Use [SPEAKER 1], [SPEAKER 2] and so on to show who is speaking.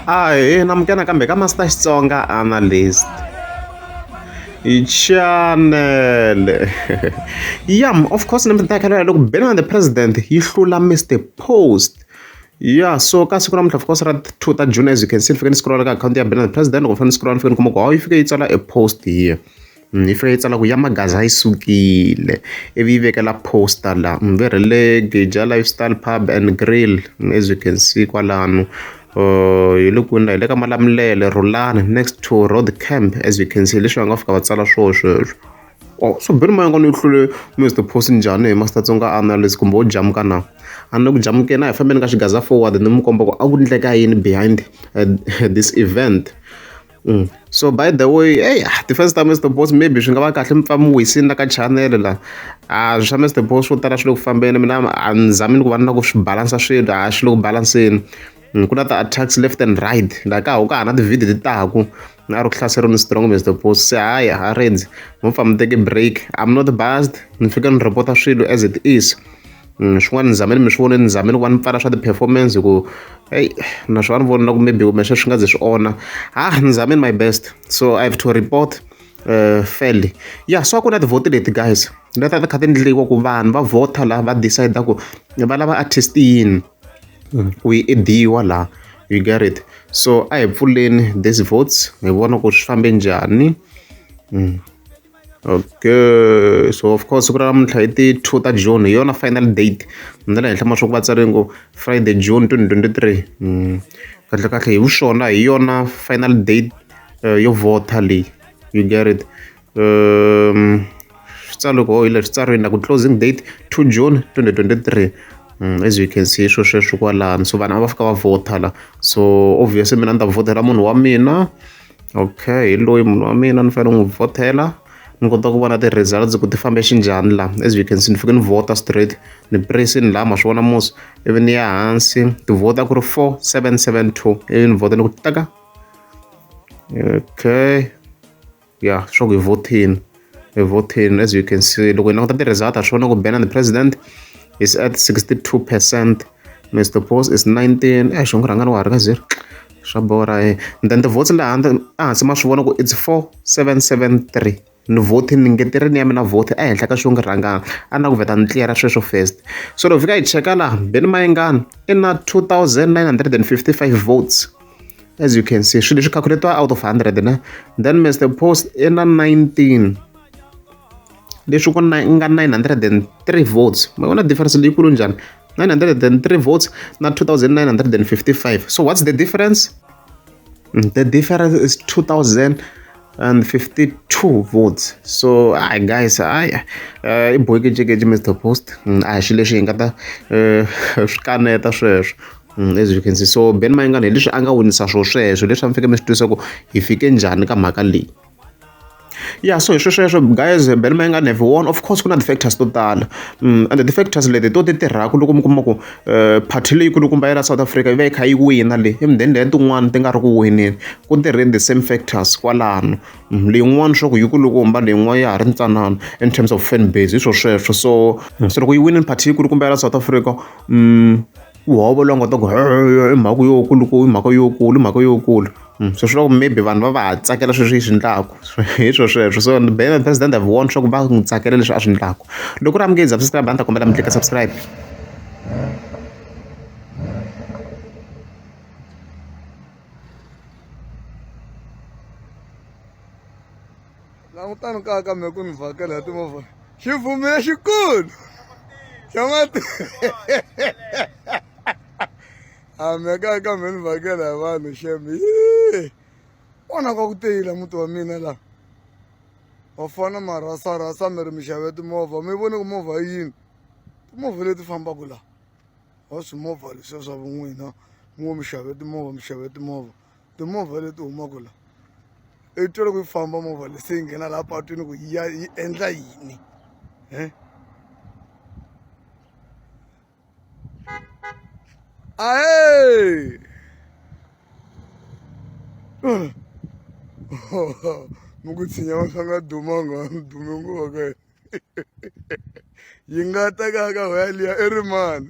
[SPEAKER 1] a hi na mukena kambe ka master xitsonga analyst chanele yam of course ni mitakelo ya loko ben the president yi hlula mr post ya so ka siku namuntlha of course ra two ta june as you can see ni fike ni scrolla ka akhawunti ya ben the president loko ni fane ni scrolla ni fike ni kuma ku hawu yi fike yi tsala a post here Yi fanele yi tsala ku ya maghaza yi sukile, ivi yi vekela post-a laha. Ni ve rhele Giyani Lifestyle Pub and Grill as you can see kwalano. Hi le kwini laha? Hi le ka Malamulele, Rhulani next to Rhodicamp as you can see hi leswi va nga fika va tsala swona sweswo. Ohh swi bihile moya wa kona wu tlule Mister Boss njhani he Master Tsonga Analyst kumbe wo jamuka na? A ni le ku jamukeni a hi fambeni ka xighaza forward ni n'wi komba ku a ku endleka yini behind this event. So by the way eyi a ti-fans ta Mister Boss maybe swi nga va kahle mi pfa mi wisile la ka channel la a swa Mister Boss swo tala swi le ku fambeni mina a ni zamini ku va ni la ku swi balansa swilo a swi le ku balanseni ku na ti-attacks left and right la ka ha ku ka ha ri na ti-video ti taku a ri ku hlaseriwa ni strong Mister Boss se hayi a rhandzi mo pfa mi teke break I'm not biased ni fika ni report-a swilo as it is. Mm, swin'wana ni zame ni mi swi vonile ni zame ni ku va ni pfala swa ti-performance hi ku eyi na swi va ni voni na ku maybe kumbe sweswi nga ze swi onha ha ah, ni zameni my best so i have to report uh, fairly ya so a ku na tivhoti leti guys leta ti kha ti ndliwa ku vanhu va vhota laha va decide ku va lava artist yini mm. ku yi ediwa laha you get it so a hi pfuleni this votes hi vona ku swi fambe njhani mm. Okay so of course siku ra namuntlha hi ti two ta June hi yona final date na le henhla ma swa ku va tsari ngo Friday June twenty twenty three hmm. kahle kahle hi vuxona hi yona final date eh, yo vota leyi you get it um switsaloko hi leswi tsariwini na ku closing date two June twenty twenty three Mm, as you can see swo sweswo kwalano so vanhu a va fika va vhota la so obviously mina ni ta vhotela munhu wa mina Okay hi loyi munhu wa mina ni fanele ni n'wi vhothela ni kota ku vona ti-results ku ti fambe xinjhani la as you can see ni fike ni vhota straight ni pressini la ma swi vona mos ivi ni ya hansi ti vhota ku ri four seven seven two ivi ni vhota ni ku taka okay ya swa ku hi vothini evhotheni as you can see loko hi languta ti-result ha swi vona ku bena the president is at 62 percent mr pos is 19 eh xongo rhangani wa ha ri ka zero swa bora e and then ti-votes laha handle ehansi ma swi vona ku it's 4773 ni vote ni ngeterini ya mina vote ehenhla ka xongo rhangani a na ku vheta ni tliyela sweswo first so loko fika hi cheka laha beni mayengani i na 2955 votes as you can see swilo leswi calculatiwa out of 100 na then mr post i na 19 leswi ku nga 903 votes ma vona difference leyikulu njhani 903 votes na 2955 so what's the difference mm, the difference is 2000 and 52 votes so hi guys hi eh, i boyikejekeje mr post mm, a hi xilo lexi hi nga ta eh, swi kaneta sweswo Mm, as you can see so ben mayengana hi leswi a nga winisa swo sweswo leswi a mi fike mi swi twisa ku hi fike njhani ka mhaka leyi ya so hi swesweswo guys ben mayengana have won of course ku na ti-factors to tala mm, and ti-factors leti to ti tirhaka loko mi kuma ku um eh, party leyikulukumba ya la south africa yi va yi kha yi wina le emudeni leya tin'wana ti nga ri ku wineni ku tirheni the same factors kwalano mm, leyin'wana swa ku yikulukumba leyin'wana ya ha ri ntsanana in terms of fan base hi swo sweswo so mm, se loko yi winini party yikulukumba ya la south africa um Ku hovololo a nga ta ku i mhaka yo kulu ku i mhaka yo kulu i mhaka yo kulu se swi lava ku maybe vanhu va va ha tsakela sweswi yi swi endlaku hi swo sweswo so ni be president I've warned swa ku va n'wi tsakela leswi a swi endlaku loko ku ri a mi nge subscribe a ni ta kombela mi tlika subscribe
[SPEAKER 2] langutani kaya ka me ku ni vhakela hi timovha xi vumile xikulu xa mati a me kaya ka me ni vhakela hi vanhu xemi ona ka ku teyila muti wa mina laha va fana marhasarhasa mi ri mi xave timovha mi vone ku movha yi yini timovha leti fambaka laha wa swimovha leswiya swa vun'wina mi ngo mi xave timovha mi xave timovha timovha leti humaka la i twa loko yi famba movha leyi se yi nghena laha patwini ku ya yi endla yini um ae mi ku tshinya wa swa nga dumanga wa mi dume nguva ka yena yi nga ta ka ka hoya liya i ri mani